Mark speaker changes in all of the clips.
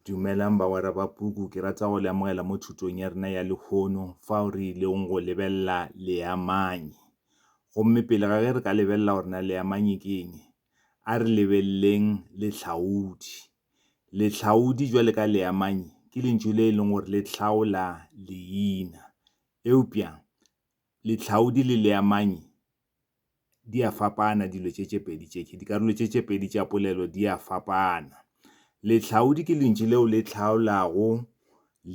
Speaker 1: Dumelang bagwera ba puku, ke rata go le amogela mo thutong ya rena ya lehono fao re ilego go lebelela leamanyi. Gomme pele ga ge re ka lebelela gore na leamanyi ke eng, a re lebeleleng lehlaodi. Lehlaodi, bjale ka leamanyi, ke lentšu le e leng gore le hlaola leina. Eupša lehlaodi le leamanyi di a fapana dilo tše tše pedi tše. Dikarolo tše tše pedi tša polelo di a fapana. Lehlaodi ke lentši leo le hlaolago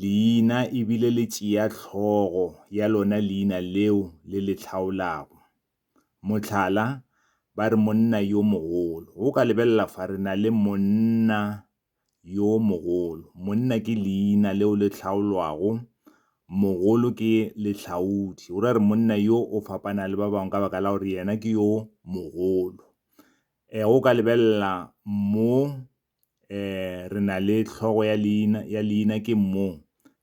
Speaker 1: leina e bile le tšea hlogo ya lona leina leo le le hlaolago. Mohlala, ba re monna yo mogolo. Go ka lebelela fa re na le monna yo mogolo. Monna ke leina leo le hlaolwago, mogolo ke lehlaodi. Go ra gore monna yo o fapana le ba bangwe ka baka la gore yena ke yo mogolo. Um o ka lebelela mo um re na le hlogo ya leina, ya leina ke mo,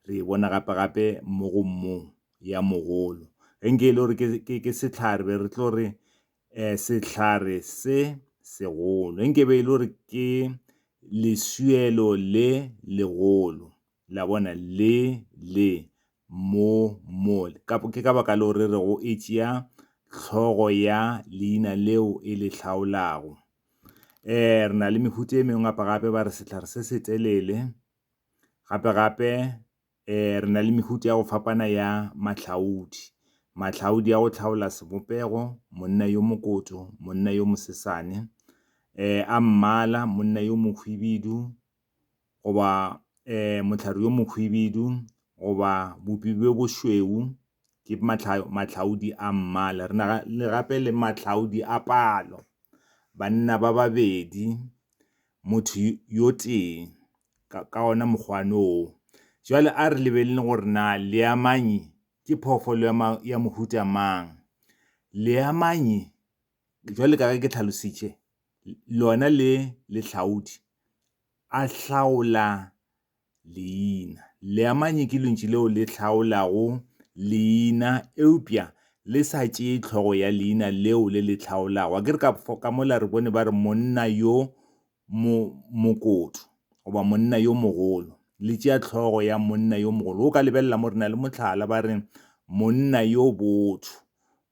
Speaker 1: re e bona gape gape mo go mo ya mogolo. Ge nke e le gore ke sehlare be re tlo re um sehlare se segolo. Nke be e le gore ke leswielo le legolo, la bona, le le mo mole. Ke ka baka leo re rego e tšea hlogo ya leina leo e le hlaolago. um Re na le mehuta e mengwe gape-gape, ba re sehlare se setelele, gape-gape. Re na le mehuta ya go fapana ya mahlaodi, mahlaodi a go hlaola sebopego, monna yo mokoto, monna yo mosesane, a mmala, monna yo mohwibidu, goba mohlare yo mohwibidu, goba bopi bjo bošweu, ke mahlaodi a mmala. Re na le gape le mahlaodi a palo. banna ba babedi, motho yo tee ka ona mokgwane oo. Jwale a re lebelele gore na leamanyi ke phoofolo ya mohuta mang. Leamanyi, jwale ka ge ke tlhalositše, lona le lehlaodi, a hlaola. Leina. Leamanyi ke lentši leo le hlaolago leina eupša le sa tšee tlhogo ya leina leo le le hlaolago. Akere ka, ka mola re bone ba re monna yo mo, mokotu goba monna yo mogolo. Le tšea tlhogo ya monna yo mogolo. O ka lebelela mo re na le mohlala ba re monna yo botho.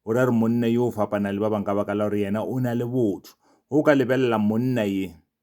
Speaker 1: Go ra re monna yo o fapana le ba bangwe ka baka la gore yena o na le botho. O ka lebelela monna ye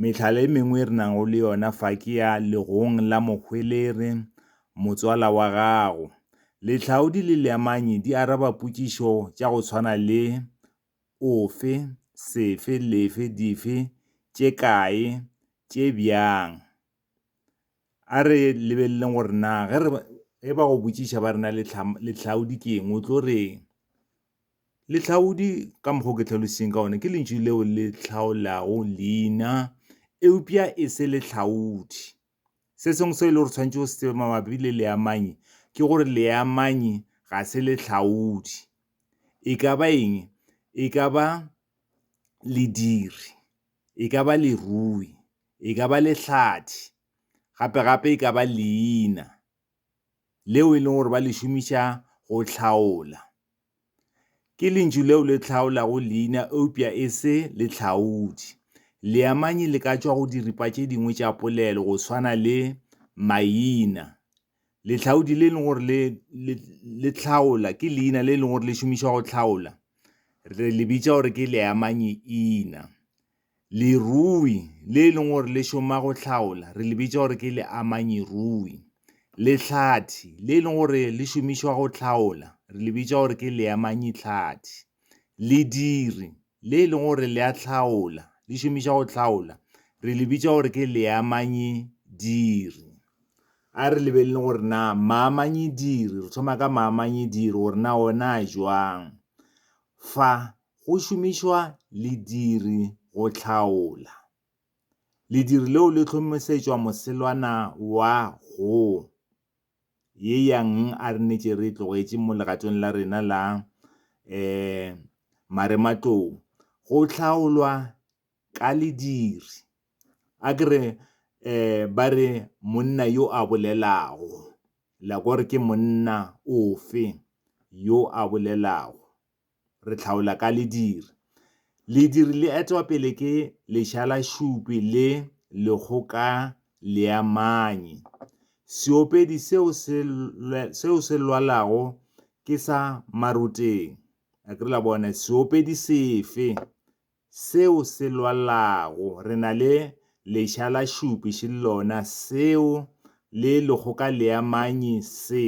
Speaker 1: Mehlala e mengwe e re nago le yona fa ke ya legong la mohweleri, motswala wa gago. Lehlaodi le leamanyi di araba potšišo tša go tshwana le, Ofe? Sefe? Lefe? Dife? Tše kae? Tše bjang? A re lebeleleng gore na ge re ge ba go botšiša ba rena lehlaodi ke eng o tlo reng. Lehlaodi ka mokgwa o ke tlhalositseng ka one ke lentšu leo le hlaolago leina eupša e se lehlaodi. Se sengwe se e le gore tshwanetse o se tsebe mabapi le leamanyi ke gore leamanyi ga se lehlaodi. E ka ba eng? E ka ba lediri. e ka ba lerui, e ka ba lehlathi, gape-gape e ka ba leina leo e leng gore ba le šomiša go hlaola. Ke lentšu leo le hlaolago leina eupša e se lehlaodi. Leamanyi le ka tšwa go diripa tše dingwe tša polelo go swana le maina Lehlaodi le e leng gore le, le, le hlaola ke leina le e leng gore le šomišwa go hlaola re le bitša gore ke leamanyeina lerui le e leng gore le šoma go hlaola re le bitša gore ke leamanyerui lehlathi le e leng gore le šomišwa go hlaola re le bitša gore ke leamanyehlathi Lediri, le e lego gore le a hlaola, le šomiša go hlaola, re le bitša gore ke leamanyediri. A re lebelele gore na maamanyediri, re thoma ka maamanyediri gore na ona a jwang. Fa go šomišwa lediri go hlaola. Lediri leo le hlomišetšwa moselwana wa go. Ye yang a re netše re e tlogetše mo legatong la rena la um marematlou, go hlaolwa ka lediri. A ke re um ba re monna yo a bolelago, la kwa gore ke monna ofe yo a bolelago. re hlaola ka lediri. Lediri le etwa pele ke lešalašupi le lekgokaleamanyi. Seopedi seo se, seo se lwalago ke sa maroteng. A ke re la bona? Seopedi sefe seo se lwalago? Re na le lešalašupi še lona seo le lekgokaleamanyi se,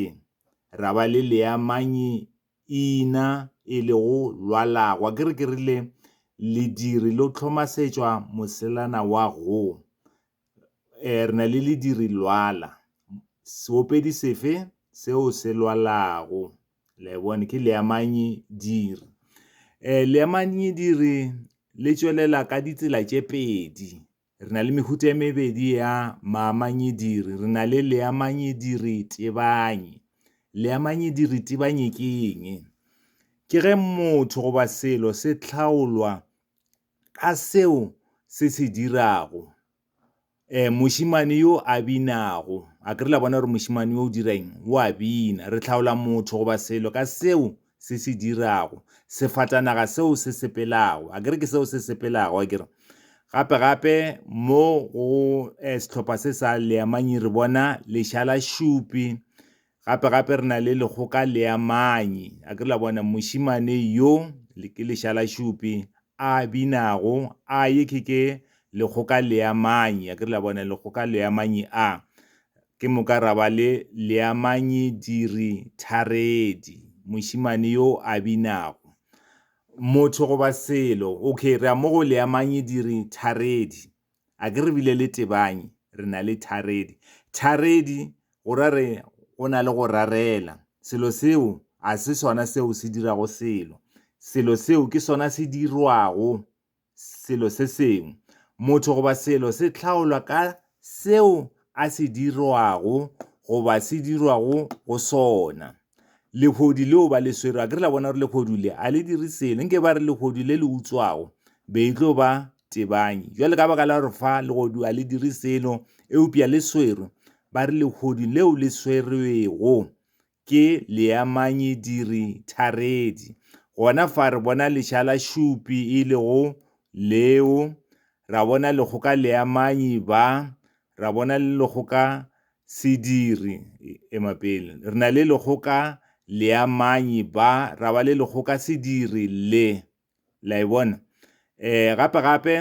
Speaker 1: ra ba le leamanyi Ina, e lego lwalagwa. Ke re, ke rile, lediri lo hlomasetšwa moselana wa go. E, re na le lediri lwala. Seopedi sefe seo se lwalago? Le bone, ke leamanyi diri. E, leamanyi diri le tšwelela ka ditsela tše pedi. Re na le mehuta e mebedi ya maamanyediri. Re na le leamanyediritebanye. Leamanyediritebanye ke eng? Ke ge motho goba selo se tlhaolwa ka seo se se dirago. E, mošimane yo a binago. A ke re la bona gore mošimane yo o dira eng? O a bina. Re tlhaola motho goba selo ka seo se se dirago, sefatanaga seo se sepelago, a kere ke seo se sepelago, a kere gape gape mo go eh, sehlopha se sa leamanyi re bona lešala šupi gape gape re na le lekgoka leamanyi a ke la bona mošimane yo ke lešala šupi a binago a ye ke ke lekgoka leamanyi a ke la bona lekgoka leamanyi a Ke moka ra ba le leamanyi diri tharedi, mošemane yo a binago. Motho goba selo, okay, re a mo go leamanyi diri tharedi. A ke re bile le tebanyi, re na le tharedi. Tharedi, go ra re go na le go rarela. Selo seo a se sona seo se dirago selo. Selo seo ke sona se dirwago selo se sengwe. Motho goba selo se hlaolwa ka seo a se dirwago goba se dirwago go sona. Lehodu leo ba le swero, a ke re la bona gore lehodu le a le dire selo, nke ba re lehodu le le utswago be e tlo ba tebanyi. Jwale ka baka la gore fa legodu a le dire selo, eupša le swero, ba re lehodu leo le swerwego Ke leamanyidiri tharedi. Gona fa re bona leša la šupi e lego leo, ra bona lekgoka leamanyi ba, ra bona le lekgoka sediri, ema pele, re na le lekgoka leamanyi ba, ra ba le lekgoka sediri le. La e bona? Eh, gape-gape,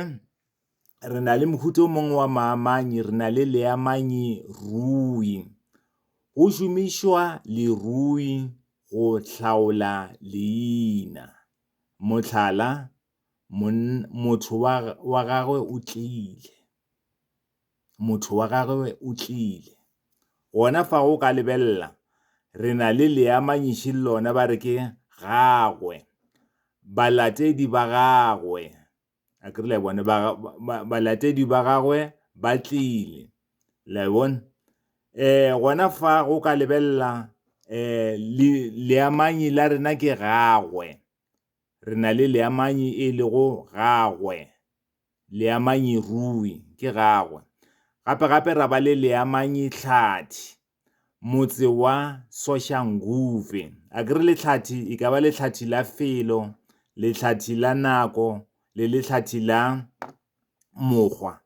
Speaker 1: re na le mohuta o mongwe wa maamanyi re na le leamanyi rui go šomišwa lerui go hlaola leina motlhala motho wa gagwe o tlile motho wa gagwe o tlile gona fa go ka lebelela re na le leamanyiši le lona ba re ke gagwe balatedi ba gagwe a kere le bone balatedi ba gagwe ba tlile le bone eh gona fa go ka lebelela eh leamanyi la rena ke gagwe re na le leamanyi e lego gagwe leamanyi rui ke gagwe gape gape ra ba le leamanyi tlhathi motse wa Soshanguve. A ke re lehlathi e ka ba lehlathi la felo, lehlathi la nako le lehlathi la mokgwa.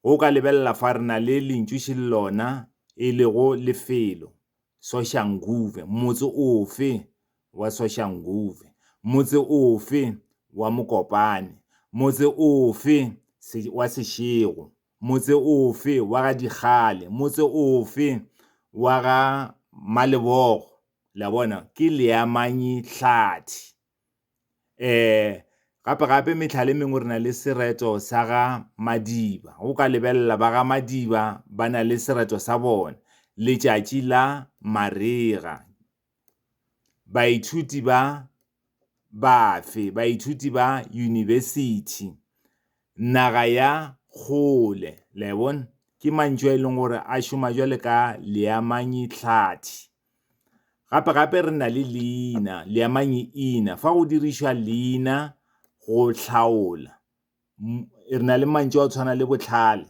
Speaker 1: Go ka lebelela fa re na le lentšuši le lona e lego lefelo Soshanguve. Motse ofe wa Soshanguve? Motse ofe wa Mokopane? Motse ofe wa Seshego? Motse ofe wa ga Dikgale? Motse ofe wa ga Malebogo? Le a bona? Ke leamanyi hlathi. Um, gape-gape mehlala e mengwe re na le sereto sa ga Madiba. O ka lebelela ba ga Madiba ba na le sereto sa bona, letšatši la marega. Baithuti ba bafe? Baithuti ba yunibesithi, naga ya kgole. Le a e bona? Ke mantšu a e leng gore a šoma jwale ka leamanyi-hlathi. Gape-gape re na le leina, leamanyi-ina. Fa go dirišwa leina go hlaola, re na le mantšu a go tshwana le bohlale.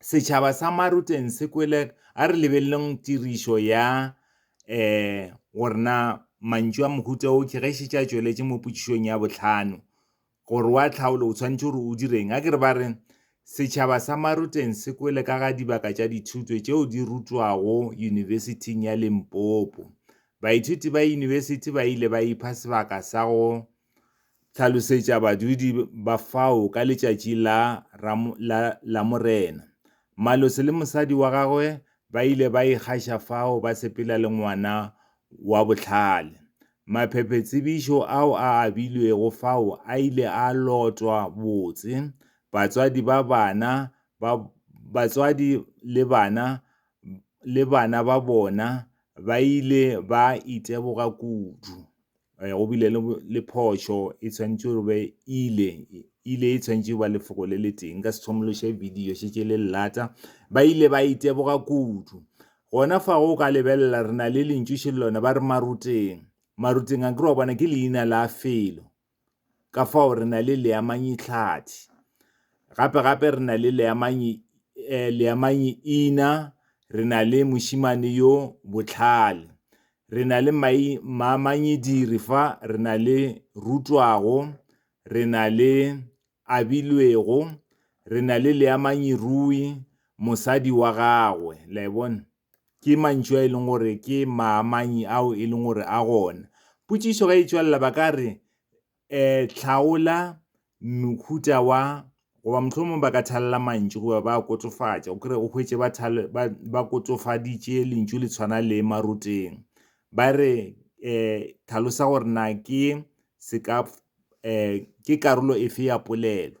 Speaker 1: setšhaba sa Maruten se kwele a re lebeleleng tirišo ya eh gore na mantšu a mohuta o ke ge šetše a tšweletše mo potšišong ya bohlano gore wa tlhaolo o tshwanetse gore o direng a ke re ba re setšhaba sa Maruten se kwele ka ga dibaka tša dithuto tšeo di rutwago yunibesithing ya Limpopo baithuti ba yunibesithi ba ile ba ipha sebaka sa go Hlalosetša badudi ba fao ka letšatši la, la, la Morena. Malosi le mosadi wa gagwe ba ile ba ikgaša fao ba sepela le ngwana wa bohlale. Maphephetshebišo ao a abilwego fao a ile a lotwa botse. Batswadi ba bana ba batswadi le bana le bana ba bona ba ile ba iteboga kudu. eh, go bile le phošo e tshwanetse gore be ile ile e tshwanetse ba lefoko le le teng ka sethomološe video šetse le lata ba ile ba iteboga kudu gona fa go ka lebelela re na le lentšu šelelona ba re maruteng maruteng a kry wa bona ke leina la felo ka fao re na le leamanyi tlhathi gape gape re na le leamanyi eh, leamanyi ina re na le mošimane yo botlhale re na le maamanyediri fa re na le rutwago re na le abilwego re na le leamanyirui mosadi wa gagwe la e bona Ke mantšu a e leng gore ke maamanyi ao e leng gore a gona. Potšišo ge e tšwelela ba ka re, um hlaola mohuta wa, goba mohlomongwe ba ka thalela mantšu goba ba a kotofatša. O kry-e o hwetše ba ba ba kotofaditše lentšu le tshwana le maroteng. Ba re um tlhalosa gore na ke um ke karolo efe ya polelo.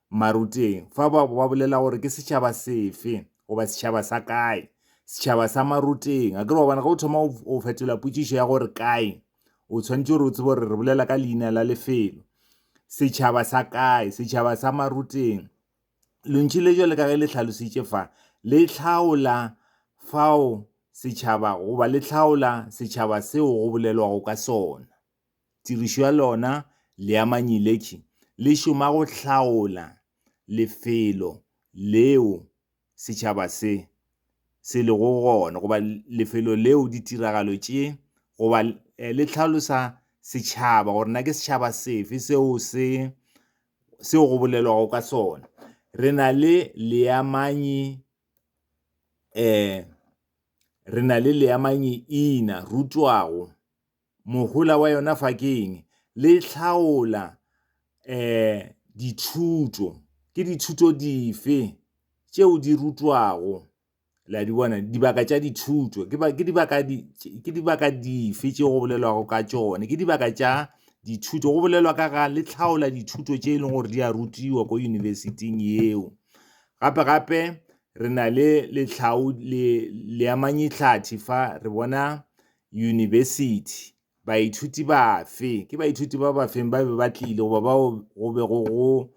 Speaker 1: Maruteng, fa ba bo ba bolela gore ke setšhaba sefe, goba setšhaba sa kae. Setšhaba sa Maruteng. A ke re wa bona, ge o thoma o fetola potšišo ya gore kae, o tshwanetše gore o tsebe gore re bolela ka leina la lefelo. Setšhaba sa kae? Setšhaba sa Maruteng. Lentšu le jwale ka ge le hlalositše fa, le hlaola fao setšhaba, goba le hlaola setšhaba seo go bolelwago ka sona. Tirišo ya lona leamanyilekhi le šoma go hlaola lefelo leo setšhaba se se lego go gona goba lefelo leo ditiragalo tše goba le hlalosa setšhaba gore na ke setšhaba sefe seo se seo go bolelwago ka sona. Re na le leamanyi re na le leamanyi ina rutwago. Mohola wa yona fa ke eng? Le hlaola um dithuto. Ke dithuto dife tšeo di rutwago? Le a di bona? Dibaka tša dithuto. Ke ke dibaka ke dibaka dife tšeo go bolelwago ka tšone? Ke dibaka tša dithuto. Go bolelwa ka ga le hlaola dithuto tše e leng gore di a rutiwa ko university-ing yeo. Gape-gape re na le le leamanyetlhathi fa, re bona Yunibesithi. Baithuti bafe? Ke baithuti ba bafeng ba be ba tlile goba bao go be go go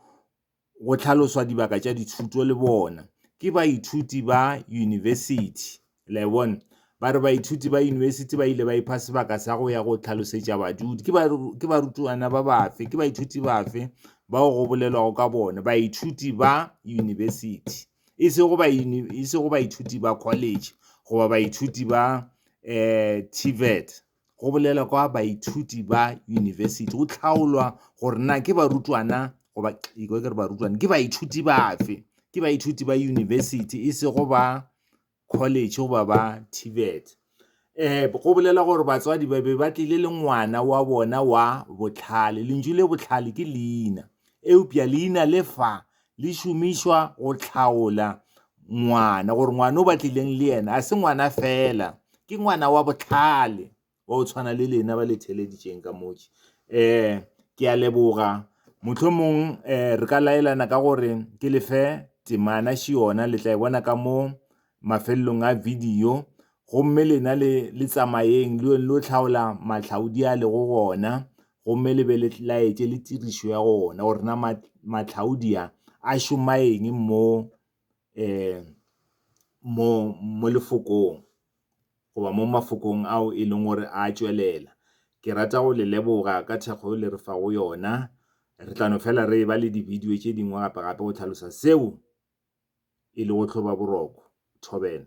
Speaker 1: go hlaloswa dibaka tša dithuto le bona? Ke baithuti ba yunibesithi. Le bona? Ba re baithuti ba yunibesithi ba ile ba ipha sebaka sa go ya go tlhalosetša badudi. Ke ba ke barutwana ba bafe? Ke baithuti bafe bao go bolelwago ka bona? Baithuti ba yunibesithi. e sego ba e sego baithuti ba college goba baithuti ba um tvet go bolela kwa baithuti ba university go tlhaolwa gore na ke barutwana goba iko ke re barutwana ke baithuti bafe ke baithuti ba university e sego ba college goba ba TVET. Eh, go bolela gore batswadi ba be ba tlile le ngwana wa bona wa bohlale. Lentšu le bohlale ke leina. Eupša leina le fa le šomišwa go hlaola ngwana, gore ngwana o ba tlileng le yena a se ngwana fela, ke ngwana wa bohlale. wa go tshwana le lena ba le theleditšeng ka motši um ke a leboga mohlomong um re ka laelana ka gore ke lefe temana še yona le tla e bona ka mo mafelelong a video gomme lena le le tsamayeng le yone lo tlhaola matlhaodi a lego gona gomme le be le laetše le tirišo ya gona gore na matlhaodi a a šoma eng mo um mo mo lefokong goba mo mafokong ao e leng gore a tšwelela. Ke rata go le leboga ka thekgo yeo le re fago yona. Re tla no fela re e ba le dibidio tše dingwe gape-gape go tlhalosa seo e lego tlhobaboroko. Thobela.